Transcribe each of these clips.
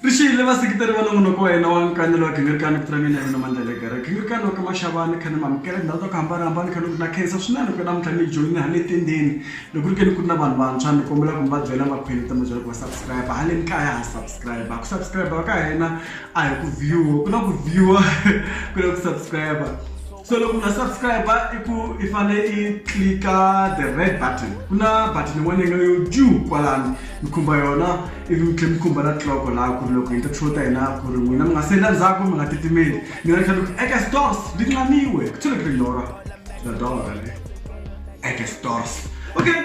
Ri xiyile vaseketeri va nongonoko wa hina wa nkanelo wa gingirikani vito ra mina hi Winamandla Legere gingirikani wa ka Maxava ni kha ni mi amukela tindhawu ta ku hambanahambana ni kha ni ku na khensa swinene ku namuntlha mi joyine ha le tendeni loko ri ke ni ku ri na vanhu vantshwa ni kombela ku mi va byela makhwiri ta mi byela ku va subscribe haleni kaya ha subscribe ku subscribe ka hina a hi ku view ku na ku view ku na ku subscribe so loko u nga subscribe i ku i fanele i clika the red button ku na button yin'wana yi nga yo ju kwalani mi khumba yona ivi mi tlhela mi khumba na cloko laha ku ri loko hi ta show ta hina ku ri n'wina mi nga senda ndzhaku mi nga titimeli mi nga tlhela ku eka stores ndi nxaniwe ku tlhela ku ri lora the door le eka stores okay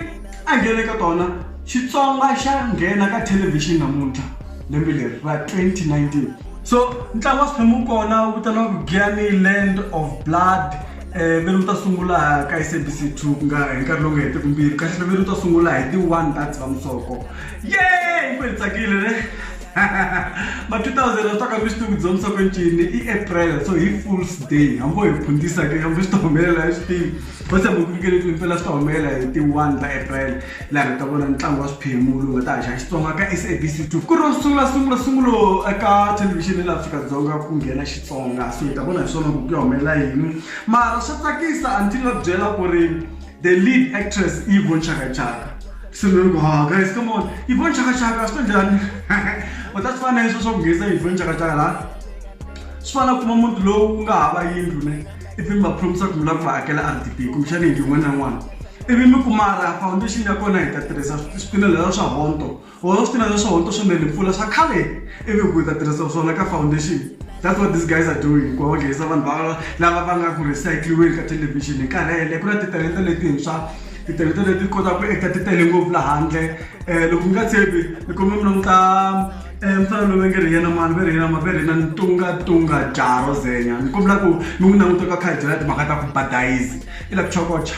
a nghene ka tona xitsonga xa nghena ka thelevhixini namuntlha lembe leri ra 2019 so ntlangu wa swiphemu wu kona wu vitaniwaku giani land of blood um ve ni wu ta sungula ka s a b c two ku nga hi nkarhi lowu nga hetiki mbirhi kahle ve ni wu ta sungula hi ti-one ta dzivamisoko ye ku hi tsakile ne ma two thousand a swi taka mi swi tivi ku dzivamisoko ncini i april so hi fools day hambo hi phundisa ke hambo swi ta humelela hi swi tivi va tshembe ku nyikele ku impela swi ta humelela hi ti-one ta april laha hi ta vona ntlangu wa swiphemu lowu nga ta haxa xitsonga ka sabc two ku ri ro sungula sungula sungulo eka thelevhixini ya le afrika-dzonga ku nghena xitsonga so hi ta vona hi swona ku ku ya humelela yini mara swa tsakisa a ni ti nga byela ku ri the lead actress i von chakachaka se ni loko ha guys come on i von chakachaka swi ta njhani u ta swi fana leswo swa ku nghenisa i von chakachaka laha swi fana kuma muti lowu nga hava yindlu ne ivi mi va promise ku mi lava ku va akela r d p kumbexana yindlu yin'wana na yin'wana ivi mi kumara foundation ya kona hi ta tirhisa swipinelelo swa honto or swipinelelo swa honto swo nele mpfula swa khale ivi ku hi ta tirhisa swona ka foundation that's what these guys are doing ku onghesa vanhu va lava va nga ku recycliweni ka television hi nkarhi hele ku na titalenta letintshwa titalenta leti kotaka ku eka ti tele ngopfu lahandle um loko mi nga tshembi ni kombe mi languta mfana loyi va nge ri hi yena mani va ri hi yena mani va ri hi yena Ntungatunga Jaro Zenya ni kombela ku mi n'wi languta loko a kha a hi byela timhaka ta ku ba dayizi i la ku chokocha.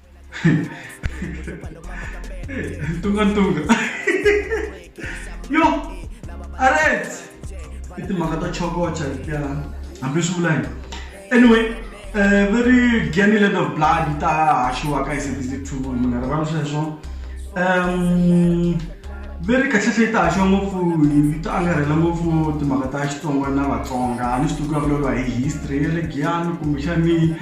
Tunga tunga. Yo! Aret! I timhaka ta chokocha letiya hambi swi vula anyway uh, very gany land of blood yi ta haxiwa ka sabc two mi nga rivali sweswo um veri kahlehla yi ta haxiwa ngopfu yi ta angarhela ngopfu timhaka ta xitsonga na vatsonga a ni swi tiku ya vulavuriwa hi history ya le giyani kumbexani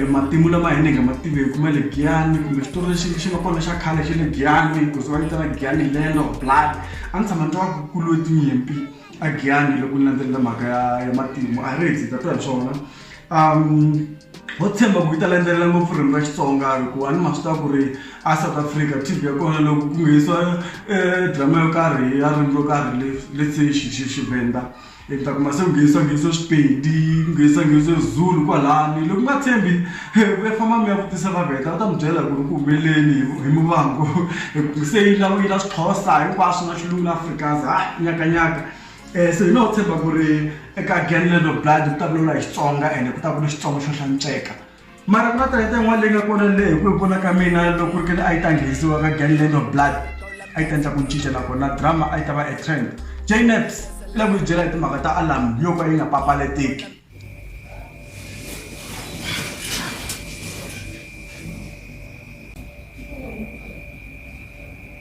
matimu lama hina hi nga ma tiveki ma le giyani kumbe xitori lexi xi nga kona xa khale xa le giyani ku ze va vitana giyani lelo blood a ni tshama ni twa ku ku lwe tinyimpi a giyani loko ni landzelela mhaka ya ya matimu a hi ri hi dzika twa hi swona ho tshemba ku yi ta landzelela ngopfu ririmi ra xitsonga hikuva a ni ma swi tiva ku ri a south africa T_V ya kona loko ku nghenisiwa drama yo karhi ya ririmi ro karhi le le se xi xi xi venda. Endzhaku masi ku nghenisa nghenisa Xipedi ku nghenisa nghenisa Zulu kwalani loko mi nga tshembi mi ya famba mi ya vutisa Vavheta va ta mi byela ku ri ku humeleleni hi hi Muvhango hi ku se yi lava yi la Xixhosa hinkwaswo na Xilungu na Afrikaans ha nyakanyaka se hi no tshemba ku ri eka Giyani Land of Blood ku ta vulavula hi Xitsonga ene ku ta ku ri Xitsonga xo hlantsweka. Mara ku na talenta yin'wana leyi nga kona leyi hi ku hi vona ka mina loko ri kene a yi ta nghenisiwa ka gangland of blood a yi ta endla ku cinca nakona drama a yi ta va a trend jnaps i lava ku yi byela hi timhaka ta alarm yo ka yi nga papalateki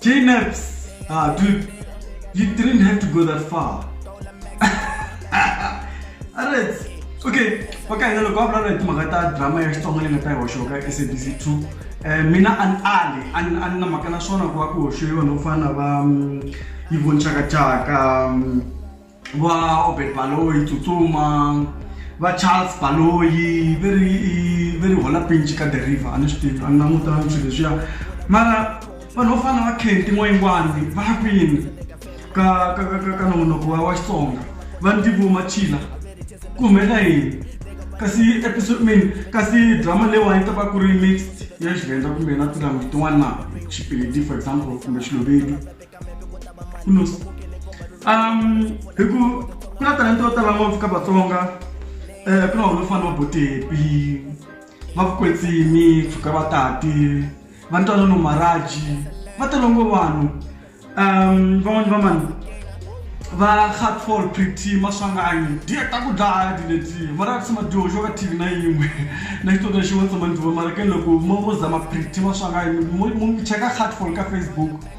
J-Naps! Ah, dude, you didn't have to go that far. Alright. Okay, okay, hello, go blala hi timhaka ta drama ya Xitsonga leyi nga ta yi hoxiwa ka SABC 2. Eh mina an ali, an an na mhaka na swona ku va ku hoxiwe vanhu vo fana na va mm, Yvonne Chaka Chaka, mm, vaobert baloyi tsutsuma va charles baloyi ve ri ve ri hola pinci ka the river a ni swi tivi a ni langutangi swilo leswiya mara vanhu vo fana na va kenti n'wayingwani va ya kwini ka ka ka ka ka nongonoko wa wa xitsonga va ndzi vo machila ku humelela yini kasi episode min kasi drama leyiwani yi ta va ku ri mixed ya xivenda kumbe na tilanguage tin'wana na xipedi for example kumbe xilovedi Plus, um, hi ku ku na talenta yo tala ngopfu ka vatsonga um ku na wona fana va botepi va vukwetsimi pfuka va tati va ntwana no maraji va tele ngo vanhu um van'wani va mani va hardfall pretty maswanganyi diya ta ku dlaya diletiya mara tshama dyoxo ka tv na yin'we na xitota xin'wana tshama ndzi va mara ke loko mo mo zama pretty maswanganyi mo cheka hardfall ka facebook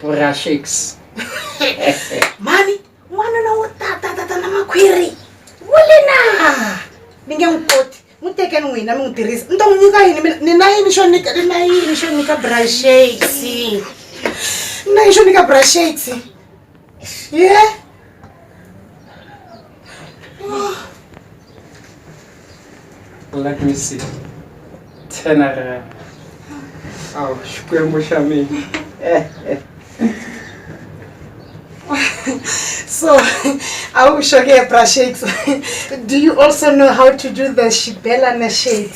purashix mhani n'wanuna wo tatatata na makhwiri wu le na mi nge n'wi koti n'wi tekeni n'wina mi n'wi tirhisa ni ta n'wi nyika yini mina ni na yini xo nyika ni na yini xo nyika brashix ni na yini xo nyika brashix ye yeah. let me see ten rand aw xikwembu xa mina eh, eh. so awu shoke bra shakes do you also know how to do the shibelana shake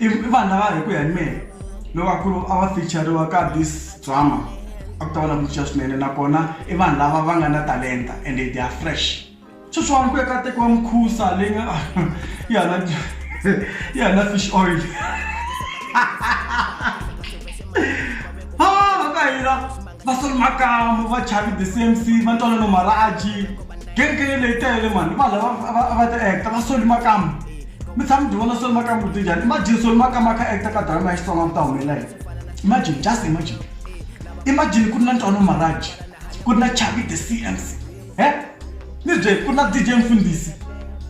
i vanhu lava hi ku ya hi mehe loko a ku ri a va fichariwa ka this drama a ku ta va na ku cinca swinene nakona i vanhu lava va nga na talenta and they are fresh sweswiwani ku ya ka tekiwa mukhusa leyi nga ya na ya na fish oil ha va ka hira va solo makamu va chavi the same c va ntwanano maraji genge leyi tele mani va lava va ta acta va soli makamu mi tshama mi byi vona solo maka mbuti njhani imagine solo maka ma kha actor ka drama ya xitsonga ku ta humelela yini imagine just imagine imagine ku ri na ntwano maraji ku ri na chavi the cms he ni bye ku ri na dj mfundisi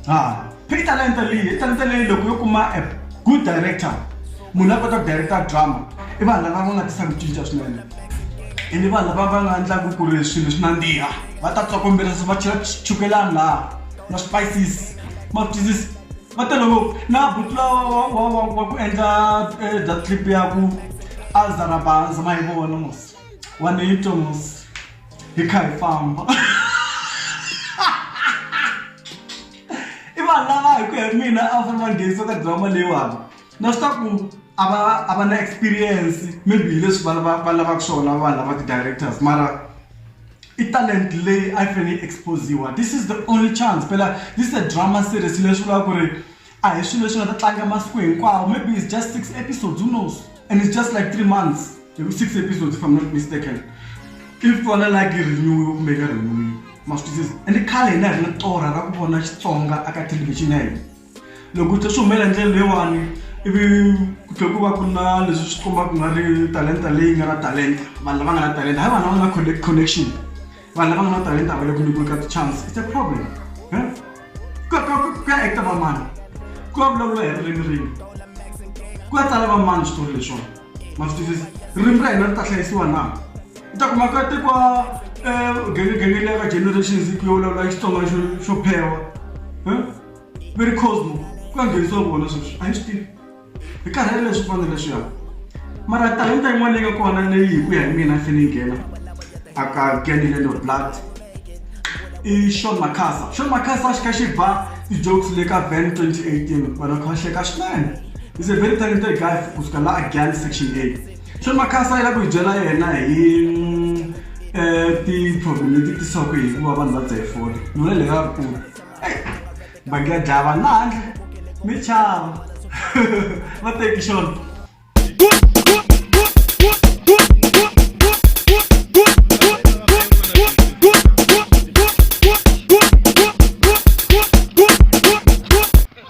ha phei talenta leyi talenta leyi loko yo kuma a good director munhu a kota ku director drama i vanhu lava va nga tisa ku cinca swinene ene vanhu lava va nga endlaku ku ri swilo swi nandziha va ta tsokombela va chela chukelani laha na spices maphilisi va tele ngopfu na buti lowa wa- wa- wa ku endla eh, that clip ya ku azarabaza ma yi vona mos wa ni twa mos hi kha hi famba i vanhu lava hi ku ya hi mina a va fanele va nghenisa ka drama leyiwani na swi ta ku a va a va na experience maybe hi leswi va lava va lavaka swona vanhu lava ti-directors mara i talent leyi a yi fanele yi expose-iwa this is the only chance phela this is a drama series leswi vulaka ku ri a hi swilo leswi nga ta tlanga masiku hinkwawo maybe it's just six episodes who knows and it's just like three months hi ku six episodes if I'm not mistaken if kona like yi renew-iwe kumbe yi nga renew-iwi ma swi twisisa ende khale hina hi ri na torha ra ku vona Xitsonga aka thelevhixini ya hina. Loko u twa swi humelela hi ndlela leyiwani ivi ku tlhela ku va ku ri na leswi swi kombaka ku nga ri talenta leyi nga na talenta vanhu lava nga na talenta hayi vanhu lava nga na connection vanhu lava nga na talenta a va le ku nyikiweni ka ti-chance it's a problem ku ya ku ya act-a va mani ku ya vulavuriwa hi ririmi rini ku ya tsala va mani switori leswiwani ma swi twisisa ririmi ra hina ri ta hlayisiwa na u ta kuma ku ya tekiwa gengeleni ya ka generations ku yo vulavuriwa Xitsonga xo xo phewa . mi ri cosmo ku ya nghenisiwa vona sweswi a hi swi tivi hi karhele leswi fanele leswiya mara talenta yin'wana leyi nga kona leyi hi ku ya hi mina fene yi nghena a ka ganilendo blood i shon macasa shon macasa xi kha xi ba ti-jokes le ka van 2018 vanhu kha va hleka swinene is a very talented guy kusuka la a gan section a shon macasa yi la ku hi byela yena hi um ti-problem leti tisaka hikuva vanhu va dzaye fole nona leyi va ri kulu bangi ya dlaya vanhu laha handle mi chava va teki xona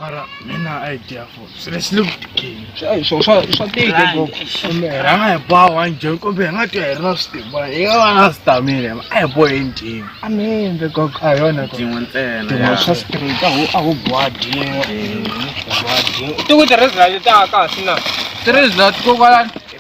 mara mina a yi dya for seriously ku tikeni swo swa swa tika ngopfu kumbe hi rhanga hi boha one jam kumbe hi nga twa hi ri na switimba hi nga va na switamile a hi bohe ntima a mi endle kok a yona tin'we ntsena tin'we swa straight a wu a wu boha dye boha dye ti ku tirhisa leti ta kahle na tirhisa leti kokwalani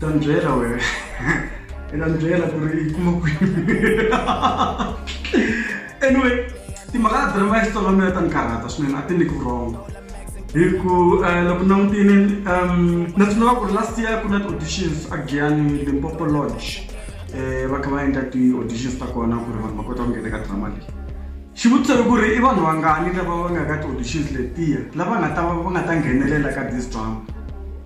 ta ni byela wena i ta ni byela ku ri i kuma kwini anyway timhaka ta drama ya xitsonga mina ta ni karhata swinene a ti ni ku wrong hi ku eh, loko langutini um na tsundzuka ku ri last year ku na ti-auditions a giyani limpopo lodge um va kha va endla ti-auditions ta kona ku ri vanhu va kota ku nghena ka drama leyi Xivutiso i ku ri i vanhu vangani lava va nga ka ti-auditions letiya lava nga ta va va nga ta nghenelela ka this drama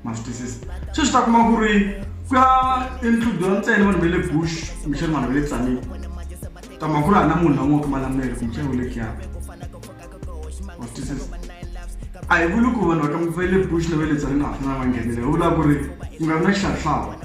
ma swi twisisa sweswi ta kuma ku ri ku ya include-iwa ntsena vanhu va le bush kumbexana vanhu va le tsanile ta mhaka ku ri a na munhu la n'wi wa kuma lamela kumbexana wu le giyani ma swi twisisa a hi vuli ku vanhu va ka va le bush na va le tsanile a va fanele va nghenelela hi vulaka ku ri ku nga vi na xihlawuhlawu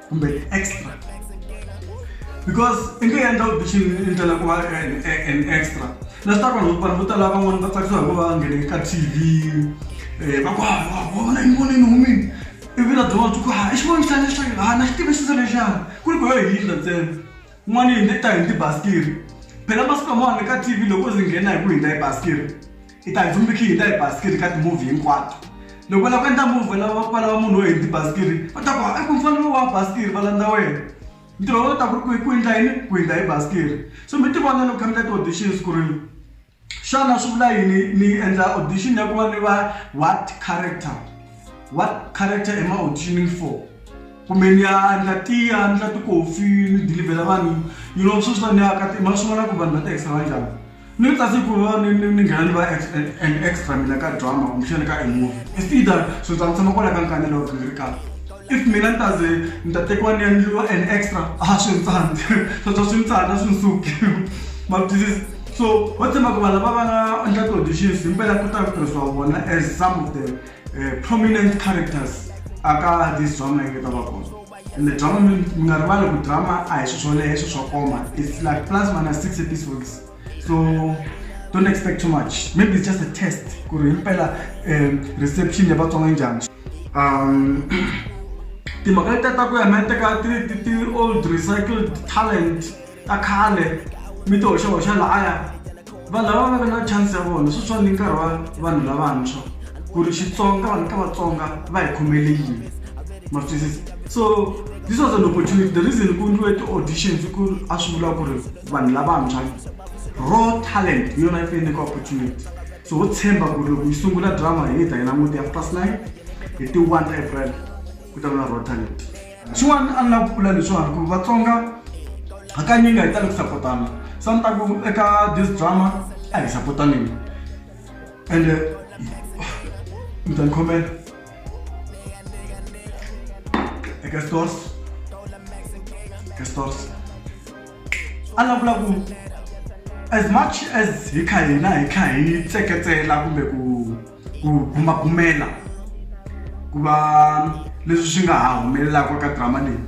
kumbe extra because i nge endla u bishi ndlela ku va an extra leswi ta vanhu vanhu vo tala van'wana va tsakisiwa hi ku va nghene ka tv um va ku ha wa vona ni vonini humini ivi na byon'wana byi ku ha i xivoni xitani xa ha na xi tivisisa lexana ku ri ku yo hi hindla ntsena n'wana yi hi ta hi ni tibasikiri phela masiku lamawani ka tv loko zi nghena hi ku hindza hi basikiri Hi ta hi vhumbekile hi ta hi basikiri ka timovhi hinkwato loko va lava ku endla movhi va lava va lava munhu wo hini tibasikiri va ta ku i ku mfanelo lowu wa basikiri va landza wena ntirho wa wena u ta ku ri ku ku endla yini ku hundza hi basikiri so mi tivona loko kha mi ta ti-auditions ku ri xana swi vula yini ni endla audition ya ku va ni va what character what character am I auditioning for kumbe ni ya ni ya tiya ni ya ti-coffee ni dilivhela vanhu you know sweswiwa ni ya ka ma swi vona ku vanhu va ti ehleketa njhani. Ni ri kasi ku va ni ni ni nghena ni va an extra mina ka drama kumbexani ka a movie it's either so ni ta ni tshama kwala ka nkanelo loko ni ri kaya if mina ni ta ze ni ta tekiwa ni endliwa an extra a swi ni tsandzi sweswo swi ni tsandza a swi ni suki ma swi twisisa so ho tshemba ku vanhu lava va nga endla ti-auditions himpela ku ta ku tirhisiwa vona as some of the prominent characters a ka this drama yi nga ta va kona. ende drama mi mi nga rivali ku drama a hi swi swoleye i swi swo koma its like plus minus six episodes so don't expect too much maybe it's just a test ku ri himpela um reception ya vatsonga njhani um timhaka leti ta ku ya mi ya teka ti-old recycled talent ta khale mi ti hoxahoxa lahaya va lava va nga na chance ya vona sweswiwani ni nkarhi wa vanhu lavantshwa ku ri xitsonga vanhu ka vatsonga va hi khomele yini ma twisisa so this was an opportunity the reason ku ndliwe ti-auditions ku a swi vula ku ri vanhu lavantshwa raw talent hi yona yi faneleke opportunity so ho tshemba ku ri loko yi sungula drama hi ta yi languti ya plus nine hi ti-one april ku ta va na raw talent Xin'wana a ni lava ku vula leswiwani ku Vatsonga hakanyingi nga hi tali ku sapotana se a ni ta ku eka this drama a hi sapotaneni ende mi ta ni khomela eka stores eka stores a ni lava ku vula ku as much as hi kha hina hi kha hi tseketsela kumbe ku ku bumabumela ku va leswi swi nga ha humelelaka ka drama leyi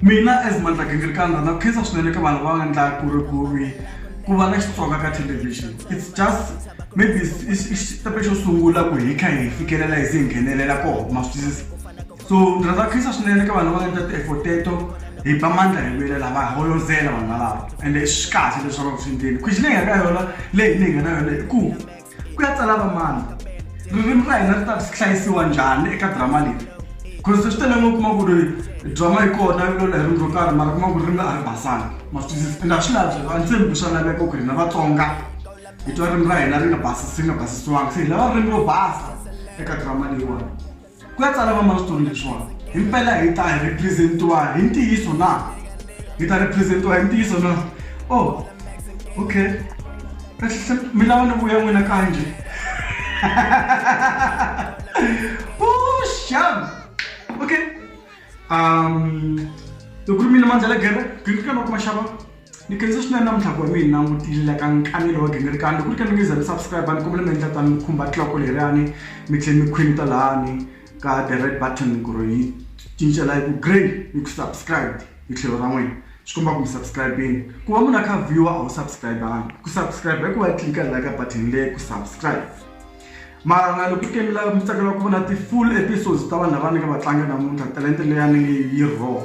mina as mandla gingirikani rhandza ku khensa swinene ka vanhu va nga endla ku ri ku ri ku va na xitsonga ka television it's just maybe i xitepe xo sungula ku hi kha hi fikelela hi se hi nghenelela koho ma swi twisisa so ndzi rhandza ku khensa swinene ka vanhu va nga endla ti-effort teto hi ba mandla hi lwelela va holozela vanhu valava ende swi kahle leswi va nga ku swi endleni khwixi leyi nga ka yona leyi leyi nga na yona i ku ku ya tsala vamani ririmi ra hina ri ta hlayisiwa njhani eka drama leyi because swi tele ngo kuma ku ri drama yi kona yi lola hi ririmi ro karhi mara kuma ku ririmi a ri basanga masitwisisa and a swi lavi sweswo a ni tshembi ku swa laveka ku hina vatsonga hi twa ririmi ra hina ri nga basisi ri nga basisiwanga se hi lava ririmi ro basa eka drama leyiwani Ku ya tsala vamalaxitulu leswiwani himpela hi ta represent-iwa hi ntiyiso na? Hi ta represent-iwa hi ntiyiso na? Oh, okay. Kahlekahle mi lava ni vuya n'wina kaya njhe? Vuxavi! Okay. Um, loko ku ri mina Mandla Lagere, Green Sky Maxava. Ni khensa swinene namuntlha ku va mi hi langutile la ka nkanelo wa gingirikani loko ri ka mi nge za mi subscribe ni kombela mi endla tani mi khumba tloko leriyani mi tlhela mi khwinita lahani ka the red button ku ri yi cincela yi ku grey yi ku subscribed hi tlhelo ra n'wina swi komba ku mi subscribe-ini ku va munhu a kha viewer a wu subscribe-angi ku subscribe i ku va tlilika la ka button leyi ku subscribe mara na loko ke mi lava mi tsakela ku vona ti-full episodes ta vanhu lava ni nga va tlanga namuntlha talenta leyani yi raw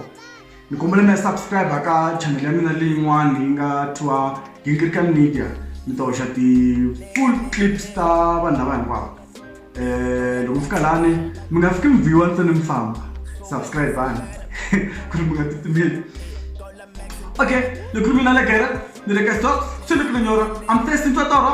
ni kombela mi ya subscribe ka channel ya mina leyin'wana leyi nga thiwa gingirika media mi ta hoxa ti-full clips ta vanhu lava hinkwavo um loko mi fika lani mi nga fiki mi viwa ntsena mi famba subscribe vani ku ri mi nga titimeli okay ni khulumi na legera ni le ka stock swi ni ku ni nyora i'm testing twa toro